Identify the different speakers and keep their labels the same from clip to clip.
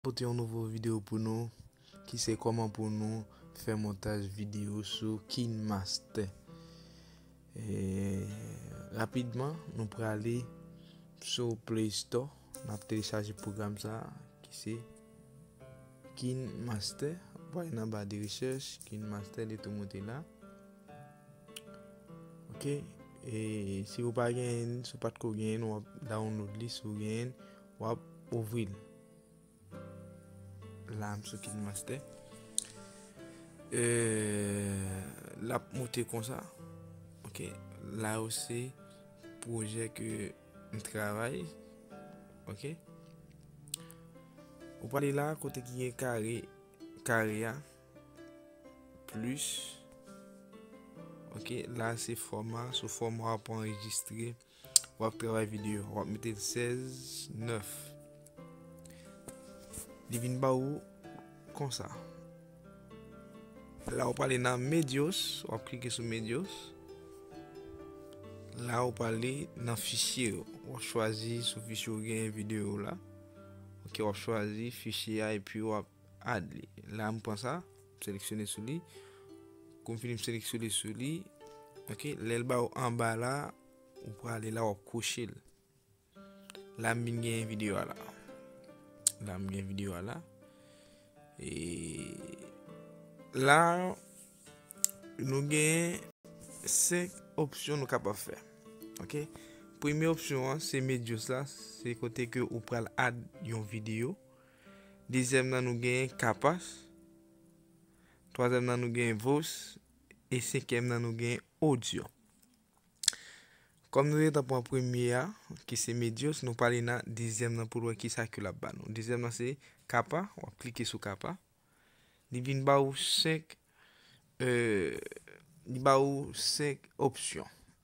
Speaker 1: Pote yon nouvo video pou nou ki se koman pou nou fè montaj video sou kinmaster rapidman nou prale sou play store nap telechaje program sa ki se kinmaster wap ale nan ba de rechèch kinmaster li tou moute la. Ok e si ou pa genyen si ou pat ko genyen wap download li si ou genyen wap ouvri l la m sou KineMaster eee lap moute konsa ok la ou se pwojè ke m travay ok ou pale la kote ki gen kare kare a. Plus Ok la se fòma Sou fòma wap anrejistre Wap travay video Wap mete 16 9 Li vin ba ou Konsa La wap ale nan medios Wap klike sou medios La wap ale nan fichye yo Wap chwazi sou fichye ou gen video la Ok wap chwazi fichye a epi wap Add li. La m pran sa, m seleksyone sou li. Kou m fini m seleksyone sou li. Ok, lè l ba ou anba la, ou prale la w ap kwoche l. La m vin genyen videyo a la. La m gen videyo a la. E la nou genyen 5 opsyon nou kapab fè. Ok, premye opsyon an se medios la, se kote ke ou pral add yon videyo. Dezyèm nan nou genyen Kapas. Twazyèm nan nou genyen Vos. E senkyèm nan nou genyen Odyo. Kòm nou gentan pran premye a, ki se Medyos, nou prale nan dezyèm nan pou nou wè ki sa ke l ap ba nou. Dezyèm nan se Kapa, w ap klike sou Kapa. Li vin ba ou 5 opsyon.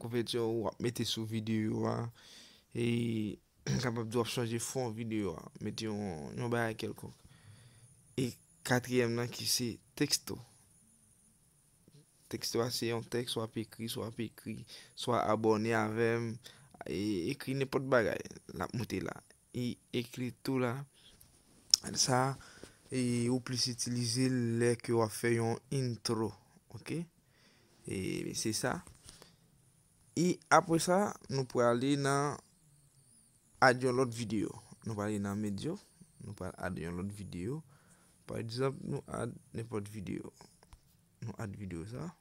Speaker 1: Kouvèti w ap mete sou videyo a e m kapab di w ap chanje fon videyo a, mete yon bagay kèlkonk. E katriyèm nan ki se teksto. Teksto a se yon tèks w ap ekri, swa w ap ekri, swa abòne avè m, ekri nenpòt bagay l ap moute la. E ekri tou la, sa ou plis itilize l lè ke w ap fè yon intro. Ok. E se sa. E apre sa, nou prale nan ad yon lòt videyo. Nou prale nan medyo. Nou prale ad yon lòt videyo. Pa egzanp, nou ad nenpòt videyo. Nou ad videyo sa.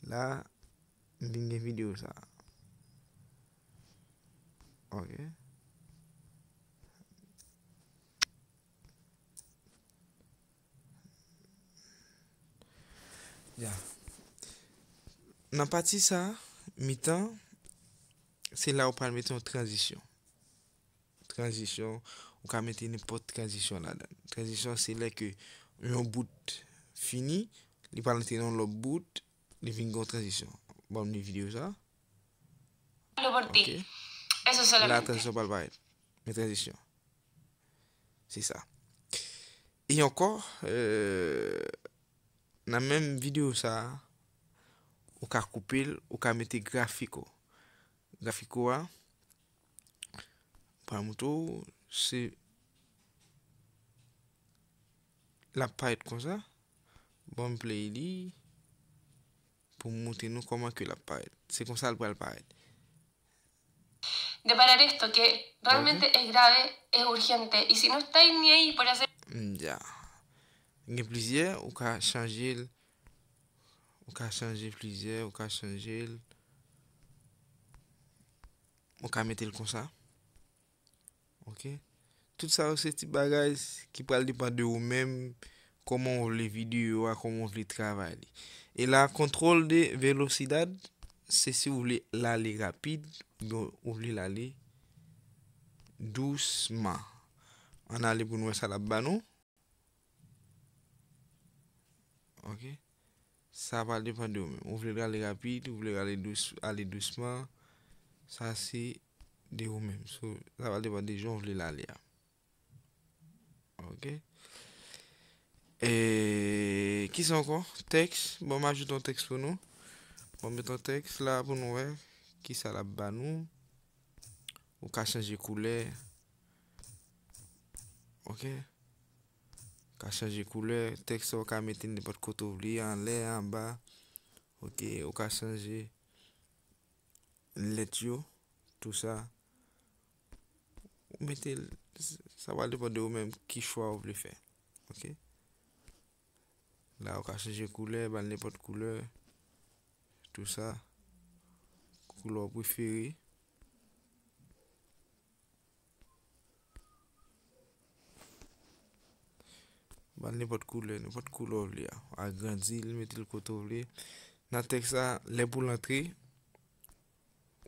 Speaker 1: La m vin gen video sa. Ok. Ya. Nan pati sa, mitan, se la ou pral mete yon tranzisyon. Tranzisyon, ou ka mete nenpòt tranzisyon ladan. Tranzisyon se lè ke yon bout fini, li pral antre nan yon lòt bout, li vin gen yon tranzisyon. Banm li videyo sa. La tranzisyon pral parèt. Yon tranzisyon. Se sa. E ankò, nan menm videyo sa, ou ka koupe l, ou ka mete grafik ou. Grafik ou a. Pwa mouton ou se lap parèt konsa bon play li pou moute nou kòman ke lap parèt se konsal pral parèt.
Speaker 2: Mdya
Speaker 1: gen plizyè ou ka chanjel ou ka chanje plizyè ou ka chanjel. Mwen ka mete l konsa. Ok. Tout sa yo se ti bagay ki pral depan de ou menm. Koman ou vle video a, koman ou vle travay li. E la control de velocidad, se si ou vle l ale rapid, oubyen ou vle l ale dousman. An ale pou nou wè sa l ap ba nou. Ok Sa va depan de ou menm Ou vle ale rapid Ou vle ale dousman Sa se de ou menm Sa va depan de jan ou vle ale a Ok Eee Kisa anko Teks Bon m ajoute yon teks pou nou Bon m met yon teks la pou nou wè Kisa l ap ba nou Ou ka chanje koulè Ok Ka chanje koulè tèks la ou ka mete nenpòt kote ou vle anlè anba ok ou ka chanje lèt yo tou sa ou mete sa va depan de ou menm ki chwa ou vle fè ok la ou ka chanje koulè bal nenpòt koulè tou sa koulè ou prefere. Bann nenpòt koulè, nenpòt koulè w vle a, w a agrandi l, mete l kote w vle, nan tèks la, lè pou l antre,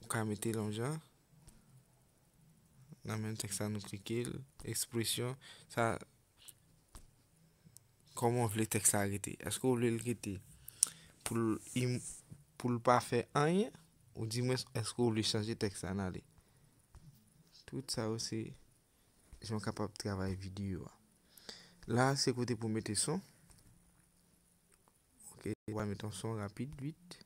Speaker 1: ou ka mete l yon jan, nan menm tèks la nou klike l, ekspresyon, sa. Kòman w vle tèks la rete? Èske w vle l rete pou l im pou l pa fè anyen oudimwens èske w vle chanje tèks la nan ale? Tout sa yo se jan w kapab travay videyo a. La a se kote pou w mete son. Ok ou pa met yon son rapid vit.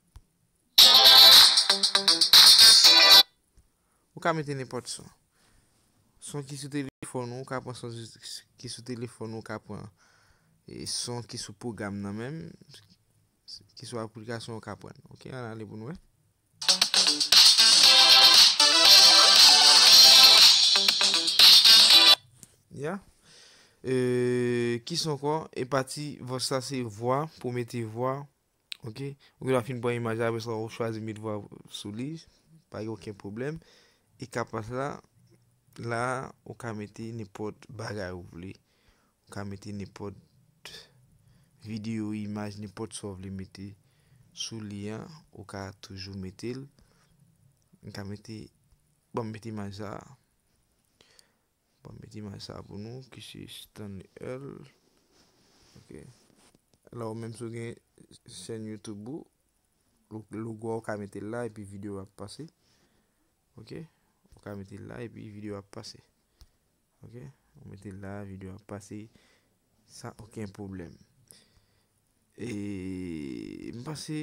Speaker 1: Ou ka mete nenpòt son. Son ki sou telefòn ou, ou ka pran son ki sou telefòn ou, ou ka pran e son ki sou pwogram nan menm, ki sou aplikasyon ou ka pran. Ok, an n ale pou n wè. Ya Eee ki son ankò e pati vòs sa se vwa pou mete vwa ok ou gen dwa fin pran imaj la apre sa ou chwazi met vwa sou li pa gen okenn pwoblèm e kapas la la ou ka mete nenpòt bagay ou vle Ou ka mete nenpòt video, imaj, nenpòt sa ou vle mete sou li an, ou ka toujou mete l. M ka mete, bon m mete imaj sa a. Bon m mete imaj sa a pou nou ki se Stanley Earl. Ok. La ou menm si ou gen chèn YouTube ou, logo a ou ka mete l la epi video a ap pase. Ok. Ou ka mete l la epi video a ap pase. Ok ou mete la video ap pase san oken pwoblèm e m panse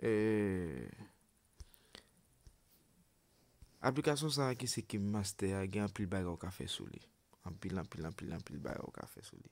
Speaker 1: eee aplikasyon sa ki se KineMaster a gen anpil bagay ou ka fè sou li anpil anpil anpil anpil bagay ou ka fè sou li.